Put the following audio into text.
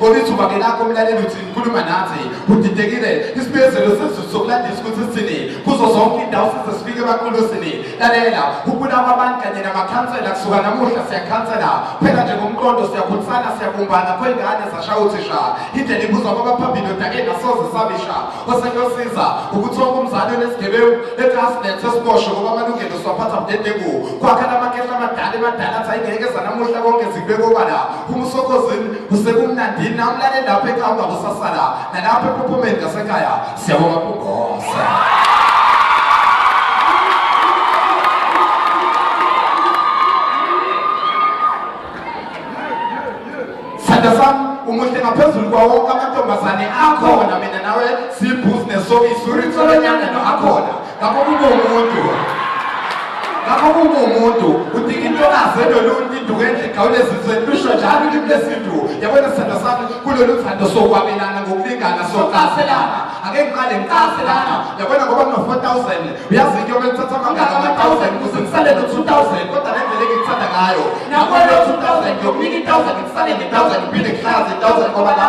Ngoba ithuba ke lakho mlaleli uthi ngikhuluma nathi udidekile isibiyezelo sezulu sokulandisa ukuthi sithini kuzo zonke indawo size sifike emaqulusini lalela ukubulawa abantu kanye namakhansela kusuka namuhla siyakhansela phela nje ngomqondo siyakhulisana siyabumbana kwengane zashaya uthisha indlela ibuzwa kwabaphambili odakeni asoze sabisha osekuyosiza ukuthi wonke umzali onesigebengu etrasnet sesibosho ngoba amalungelo siwaphatha mdedengu kwakha lamakehla amadala emadala athi ayingeke zanamuhla konke zikubekobala uma usokhozini kusekumnandini namlale lapho ekhaya ungakusasala nalapho ephophomeni ngasekhaya siyabonga kugosa sithandwa sami umuhle ngaphezulu kwawo wonke amantombazane akhona mina nawe sibhizinesi soyisuritsolo nyangano akhona ngakho kube umuntu ngakho kube umuntu udinga intokazi enoluntu induku enhle igawule ezizweni lusho njalo ulimi lesintu yabona sithando sami kulolu thando sokwabelana ngokulingana socaselana ake ngiqale ngicaselana yabona ngoba kuno-four thousand uyazi into yomele uthatha amangaka ama-thousand kuze ngisale no-two thousand kodwa le ndlela engikuthanda ngayo nakwelo-two thousand yokunika i-thousand ngisale nge-thousand ngiphinde ngihlaze i-thousand ngoba la